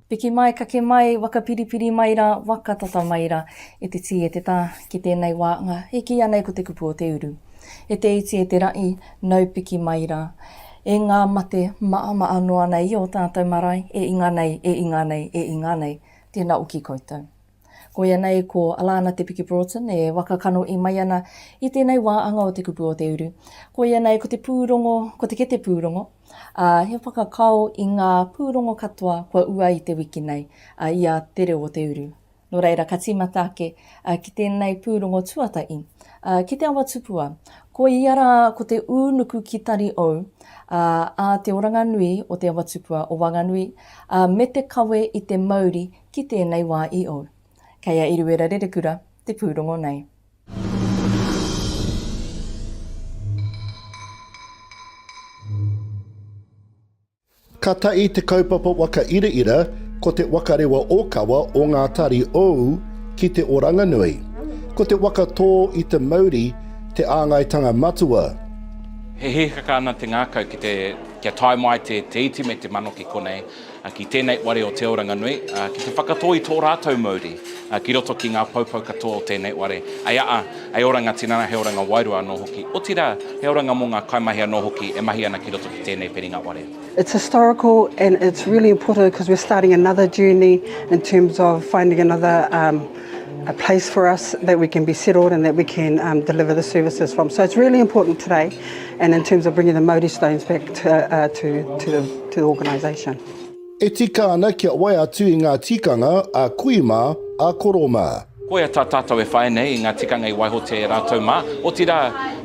Piki mai, kake mai, waka piripiri mai ra, waka tata mai ra, e te ti e te ta, ki tenei wa nga, e ki anei ko te kupu o te uru. E te iti e te ra'i, nau piki mai ra. E nga mate, maamaa noa nei i o tatou marae, e inga nei, e inga nei, e inga nei, tena o ki koutou. Koia nei ko Alana Te Piki Broughton e waka kano i mai ana i tēnei wā anga o te kupu o te uru. Koia nei ko te pūrongo, ko te kete pūrongo, ā, he whakakao i ngā pūrongo katoa kua ua i te wiki nei, ā, i a Te Reo o te Uru. Nō reira ka tīmata ake ki tēnei pūrongo tuatahi, ā, ki Te Awa Tupua. Koia rā ko te ū nuku ki Tari Ou, ā, a Te Oranga Nui o Te Awa Tupua o Wanganui, ā, me te kawe i te mauri Ki tēnei wā i ou. Kei a Eruera Rerekura te pūrongo nei. Ka tae te kaupapa waka iraira ko te wakarewa okawa o ngā tari ou ki te oranganui. Ko te waka tō i te mauri te āngaitanga matua. He hihaka ana te ngakau kia tae mai te iti me te mano ki konei. ki tēnei ware o Te Oranganui, ki te whakatō i tō rātou mauri ki roto ki ngā poupou katoa o tēnei ware. Hei aa, hei oranga tinana, hei oranga wairua anō hoki, otirā, he oranga mō ngā kaimahi anō hoki e mahi ana ki roto ki tēnei whiringa ware. It's historical and it's really important because we're starting another journey in terms of finding another um, a place for us that we can be settled and that we can um, deliver the services from. So it's really important today. And in terms of bringing the Mauri stones back to, uh, to, to, the, to the organisation. E tika ana kia whai atu i ngā tikanga a kui mā, a koro mā. Koia tā tātou e whai nei i ngā tikanga i waihotia e rātou mā, otirā,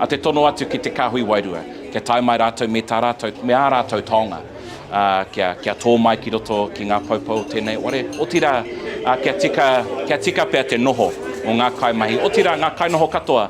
a te tono atu ki te kāhui wairua, kia tae mai rātou me tā rātou, me ā rātou taonga, ā, kia, kia tō mai ki roto ki ngā poupou o tēnei ware, otirā, ā, kia tika, kia tika pea te noho o ngā kaimahi, otirā, ngā kainoho katoa,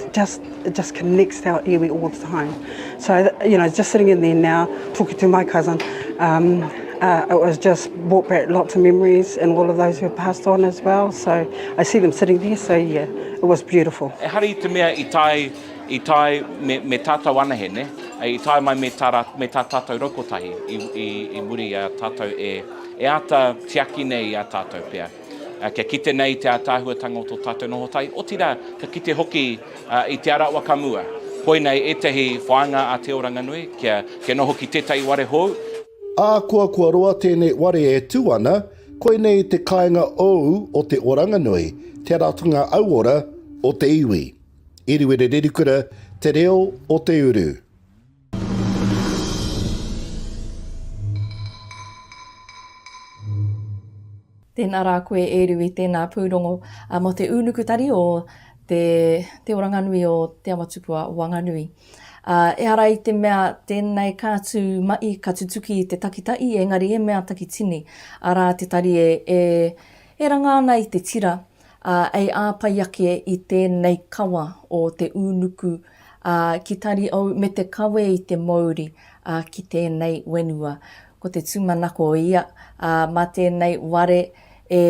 It just, it just connects our iwi all the time. So, you know, just sitting in there now, talking to my cousin, um, uh, it was just brought back lots of memories and all of those who passed on as well. So I see them sitting there, so yeah, it was beautiful. E hari te mea i tai, i tai me, me tātou anahe, ne? I tai mai me tā, me tā tātou raukotahi i, i, i muri a tātou e, e āta tiaki nei i a tātou pia. Kia kite nei te ātaahuatanga o tō tātou noho tai, otirā, ka kite hoki i te ara wakamua. Koinei ētahi whāinga a Te Oranganui, kia, kia noho ki tētahi ware hou. Ahakoa kua roa tēnei ware e tū ana, koinei te kāinga ou o Te Oranganui, te ratonga auora o te iwi. Iriwiri Rerikura, te reo o te uru. Tēnā rā koe e Rui, tēnā pūrongo mō te ūnukutari o te Te Oranganui o Te Amatupua Wanganui. Ehara i te mea tēnei ka tū mai, ka tutuki i te takitahi, engari e mea takitini, arā te tari e ranga ana i te tira, ā, ei āpai ake i tēnei kawa o te ūnuku, ā, ki tari au me te kawe i te mouri, ā, ki tēnei wenua. Ko te tūmanako ia, ā, mā tēnei ware e,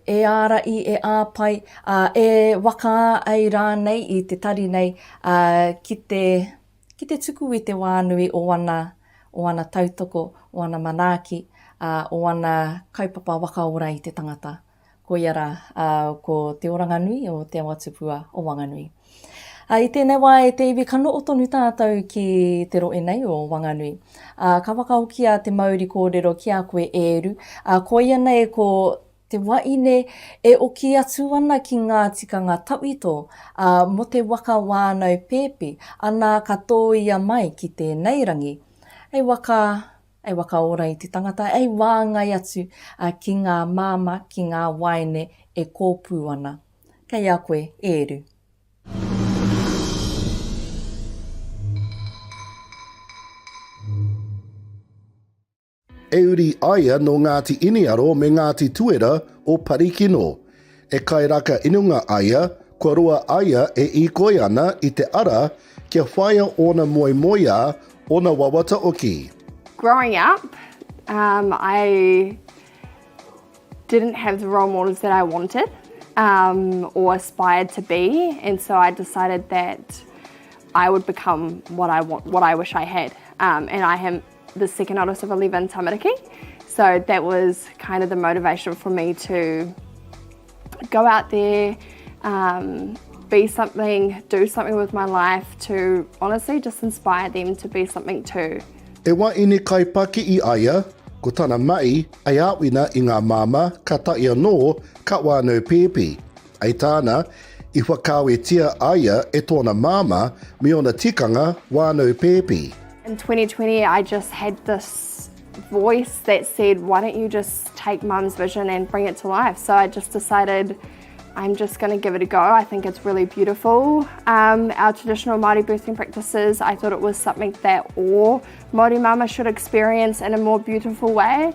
e āraʻi, e āpai, ā, e waka ai rānei i te tari nei, ā, ki te, ki te tuku i te wā nui o ana, o ana tautoko, o ana manaaki, ā, o ana kaupapa waka ora i te tangata. koia rā, ā, ko Te Oranganui o Te Awatupua o Wanganui. Ā, i tēnei wā e te iwi ka noho tonu tātou ki te rohe nei o Wanganui. Ā, ka whakahokia te mauri kōrero ki a koe e Eru, ā, koia nei ko te waine e oki atu ana ki ngā tikanga tawhito, ā, mō te waka wānau pēpi, anā ka tōia mai ki tēnei rangi. Hei waka Ei wakaora i te tangata, ei wāngai atu ki ngā māmā, ki ngā waeine e kōpū ana. Kei a koe, e Eru. E uri aia nō Ngāti Iniaro me Ngāti Tuera o Parikino. E kairaka inunga aia, kua roa aia e ikoi ana i te ara kia whaia ona moemoeā, ona wawata oki. Growing up, um, I didn't have the role models that I wanted um, or aspired to be, and so I decided that I would become what I want, what I wish I had, um, and I am the second oldest of 11 tamariki. So that was kind of the motivation for me to go out there, um, be something, do something with my life to honestly just inspire them to be something too. E wa ine kai paki i aia, ko tana mai, ai awina i nga mama, ka taia no, ka wano pepi. I tāna, i whakaawetia a ia e tōna māmā me ōna tikanga wānau pēpi. In 2020 I just had this voice that said why don't you just take mum's vision and bring it to life so I just decided I'm just going to give it a go I think it's really beautiful um, our traditional Māori birthing practices I thought it was something that all Māori mama should experience in a more beautiful way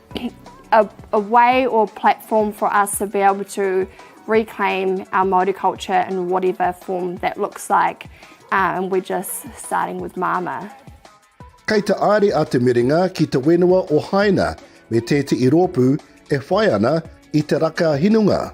a, a way or platform for us to be able to reclaim our Māori culture in whatever form that looks like. Uh, and we're just starting with Māmā. Kei te aare a Te Merenga ki te whenua o Haina me tētehi rōpū e whai ana i te raka hinunga.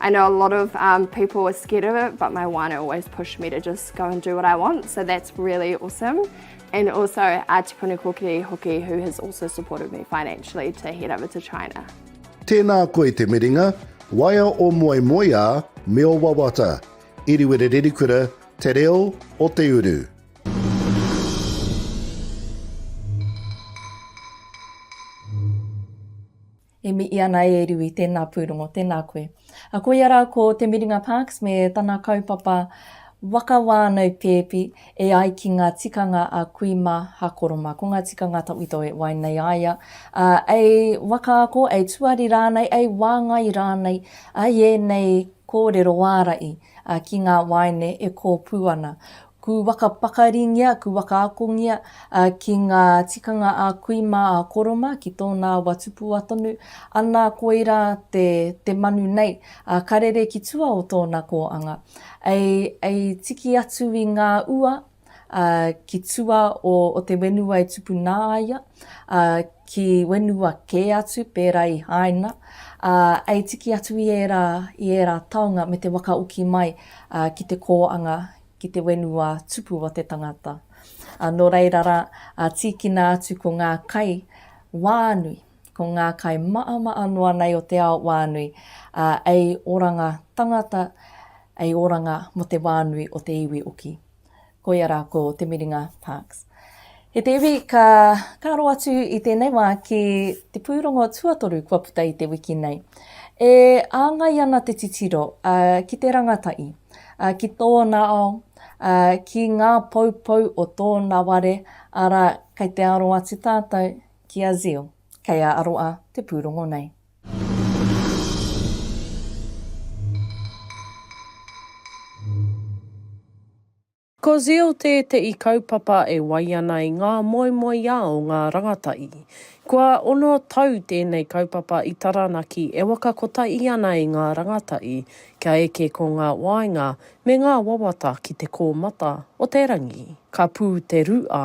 I know a lot of um, people are scared of it, but my wine always pushed me to just go and do what I want, so that's really awesome. And also our Tipuna Kokiri Hoki, who has also supported me financially to head over to China. Tēnā koe te miringa, waea o moe moeā me o wawata. Iriwere Rerikura, te reo o te uru. E mihi ana e Riwi, tēnā pūrongo, tēnā koe. A koia rā ko Te Miringa Parks me tana kaupapa Waka Wānau Pēpi e ai ki ngā tikanga a kui mā Hakoroma. Ko ngā tikanga tawhito e wai nei a ia, ā, ei waka ako, ei tuari rānei, ei wāngai rānei, ā, i ēnei kōrero ārahi ki ngā waeine e kōpū ana. Ku waka pakaringia, ku waka akongia ki nga tikanga a kui ma a Koroma ki tona wa tupua tonu, ana koira te te manu nei, a karere ki tua o tona koanga, ei ei tiki atu i nga ua, a ki tua o o te wenua e tupu na ia, a ki wenua ke atu pera i Haina, a ei tiki atu i era i era taonga me te waka oki mai ki te koanga ki te wenua tupu o te tangata. A, nō reira rā, a, tīkina atu ko ngā kai wānui, ko ngā kai māmā noa nei o te ao wānui, a, ei oranga tangata, ei oranga mo te wānui o te iwi oki. Koia rā ko Te Miringa Parks. He te iwi ka, ka aro atu i tēnei wā ki te pūrongo tuatoru kua puta i te wiki nei. E āngai ana te titiro, a, ki te rangatahi. ā, ki tōna ao, ā, ki ngā poupou o tōna ware, arā, kei te aro atu tātou ki a Zeal, kei a Aroa te pūrongo nei. Ko Zeal tēteʻi kaupapa e wai ana i ngā moemoeā o ngā rangatahi. Kua ono tau tēnei kaupapa i Taranaki e waka kotahi ana i ngā rangatahi kia eke ko ngā waenga me ngā wawata ki te kōmata o te rangi. Ka pū te ruʻa.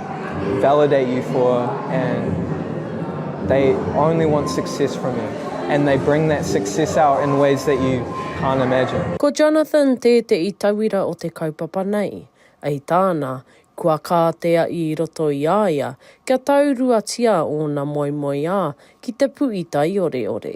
validate you for and they only want success from you and they bring that success out in ways that you can't imagine. Ko Jonathan tēteʻi tauira o te kaupapa nei. I tāna, kua kā te aʻi i roto i a ia kia tauruatia ōna moemoeā ki te puʻi taioreore.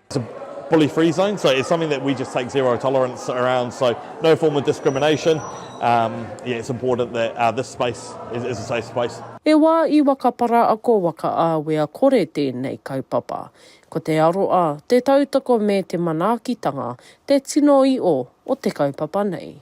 It's a bully free zone, so it's something that we just take zero tolerance around, so no form of discrimination, um, yeah, it's important that uh, this space is, is a safe space. He wā i Wakapara ako wakaawea kore tēnei kaupapa. Ko te aroa, te tautoko me te manaakitanga te tino i o o te kaupapa nei.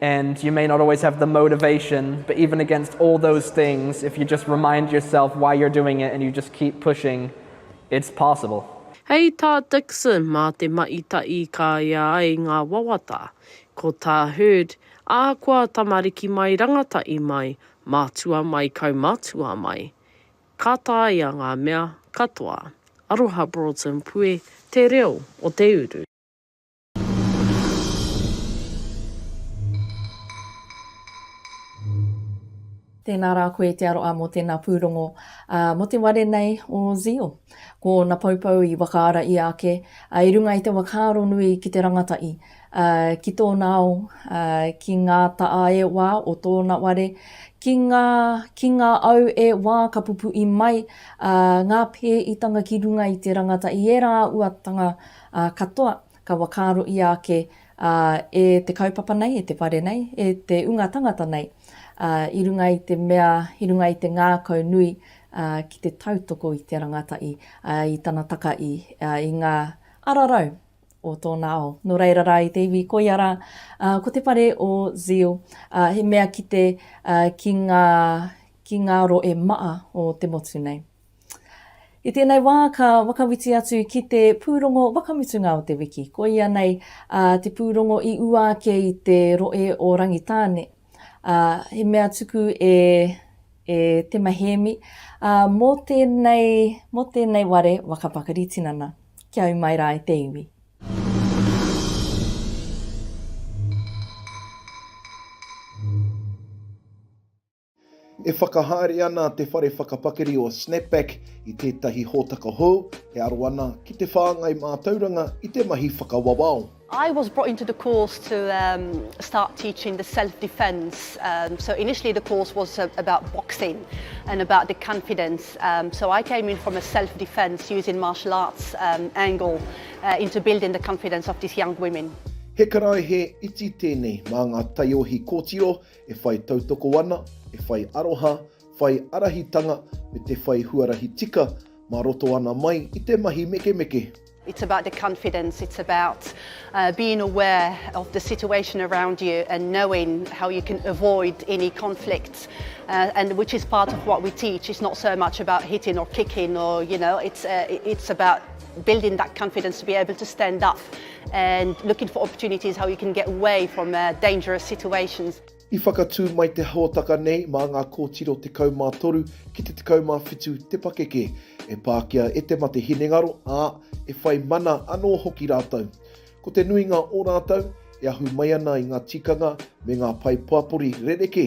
And you may not always have the motivation, but even against all those things, if you just remind yourself why you're doing it and you just keep pushing, it's possible. Hei tā Dixon, mā te maʻi ta ikaia ai ngā wawata. Ko tā Herd, ahakoa tamariki mai rangataʻi mai, mātua mai kaumatua mai, ka taea ngā mea katoa. Aroha Broughton Pue, Te Reo o te Uru. Tēnā rā koe te aroa mō tēnā pūrongo mō te ware nei o Zeal. Ko ōna poupou i whakaara ia ake i runga i te whakaaro nui ki te rangatahi, ki tōna ao, ki ngā taʻa e wā o tōna ware, ki ngā, ki ngā au e wā ka pupuhi mai ngā pēhitanga ki runga i te rangatahi, ērā auatanga Ā katoa, ka whakaaro ia ake, ā, e te kaupapa nei, e te whare nei, e te unga tangata nei, ā, i runga i te mea, i runga i te ngākau nui, ā, ki te tautoko i te rangatahi, ā, i tana takahi, ā, i ngā ara rau o tōna ao. Nō reira rā, i te iwi koia rā, ā, ko te whare o Zeal, ā, he mea kite, ā, ki ngā, ki ngā rohe maha o te motu nei. I tēnei wā ka whakawhiti atu ki te pūrongo whakamutunga o te wiki, koia nei a, te pūrongo i ua ake i te roe o Rangitāne. A, he mea tuku e, e Tema Hēmi, a, mō tēnei, mō tēnei ware whakapakari tinana. Kia ū mai rā e te iwi. E whakahaere ana te whare whakapakari o Snapback i tētahi hōtaka hou e aro ana ki te whāngai mātauranga i te mahi whakawawao. I was brought into the course to um, start teaching the self-defense. Um, so initially the course was uh, about boxing and about the confidence. Um, so I came in from a self-defense using martial arts um, angle uh, into building the confidence of these young women. He karaehe iti tēnei mā ngā taiohi kōtiro E whai tautoko ana, e whai aroha, whai arahitanga me te whai huarahi tika mā roto ana mai i te mahi mekemeke. It's about the confidence, it's about uh, being aware of the situation around you and knowing how you can avoid any conflicts, uh, and which is part of what we teach. It's not so much about hitting or kicking, or you know, it's uh, it's about building that confidence to be able to stand up and looking for opportunities how you can get away from dangerous situations. I whakatū mai te hōtaka nei mā ngā kōtiro 13 ki te 17 te pakeke e pākia e te mate hinengaro, ā, e whai mana anō hoki rātou. Ko te nuinga o rātou, e ahu mai ana i ngā tikanga me ngā pae pāpori rerekē.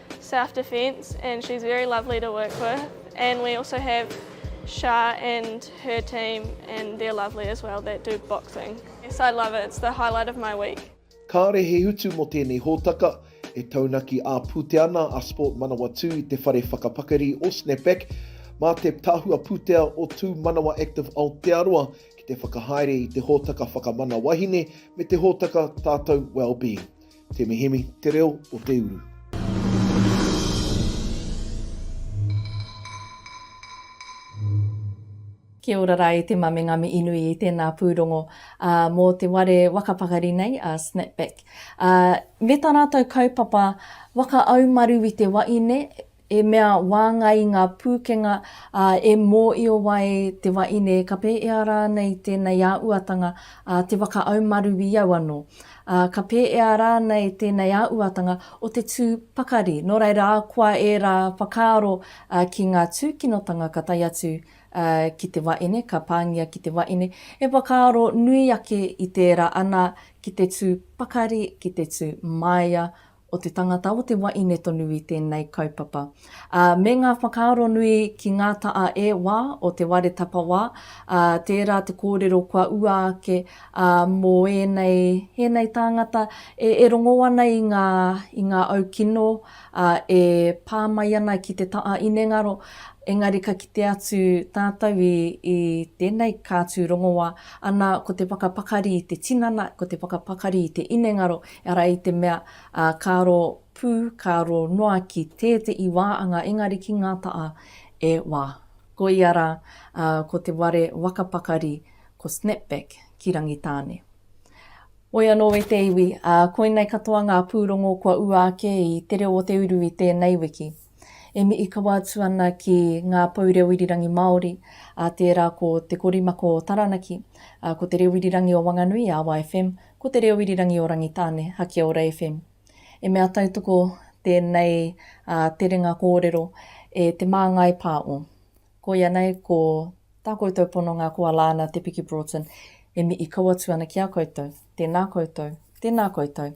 Self Defence and she's very lovely to work with and we also have Shah and her team and they're lovely as well that do boxing. Yes, I love it. It's the highlight of my week. Kāore he utu mō tēnei hōtaka, e taunaki ā-pūtea ana a Sport Manawatū i te whare whakapakari o Snapback, mā te Tahua Pūtea o Tū Manawa Active Aotearoa ki te whakahaere i te hōtaka whakamana wahine me te hōtaka Tātou Wellbeing. Te Mihemi, te reo o te uru. Kia ora rā e te mame ngā mihi nui i tēnā pūrongo mō te ware waka pakari nei, Snapback. Me tā rātou kaupapa waka aumaru i te waine, e mea wāngai ngā pūkenga, ā, e mōio ai te wahine ka pēhea rānei tēnei āhuatanga, ā, te whakaumaru i au anō, ā, ka pēhea rānei tēnei āhuatanga o te tū pakari, nō reira ahakoa ērā whakaaro ki ngā tūkinotanga ka tae atu ki te wahine, ka pāngia ki te wahine, he whakaaro nui ake i tērā ana ki te tū pakari, ki te tū māia o te tangata, o te waine tonu i tēnei kaupapa, ā, me ngā whakaaro nui ki ngā taʻa e wā o Te Ware Tapawā, ā, tērā te kōrero kua ua ake, ā, mō ēnei, ēnei tāngata e, e rongō ana i ngā, i ngā au kino, ā, e pā mai ana ki te taʻa inengaro, engari ka kite atu tātou i, i tēnei kātū rongoā, ana, ko te whakapakari i te tinana, ko te whakapakari i te inengaro, Ehara i te mea, ā, ka aro pū, ka aro noa ki tētehi wā anga engari ki ngā taha e wā. Koia rā, ā, ko te ware waka pakari, ko Snapback ki Rangitāne. Moe anō e te iwi, ā, koinei katoa ngā pūrongo kua ua ake i Te Reo o Te Uru i tēnei wiki. E mihi kawa atu ana ki ngā pou reo irirangi Māori, ā, tērā ko Te Korimako o Taranaki, ā, ko Te Reo Irirangi o Wanganui, Awa FM, ko Te Reo Irirangi o Rangitāne, Hakiaora FM. He mea tautoko tēnei terenga kōrero e Te Māngai Pā o. Koia nei ko tā koutou pononga ko Alana Te Piki Broughton, e mihi kau atu ana ki a koutou. Tēnā koutou, tēnā koutou.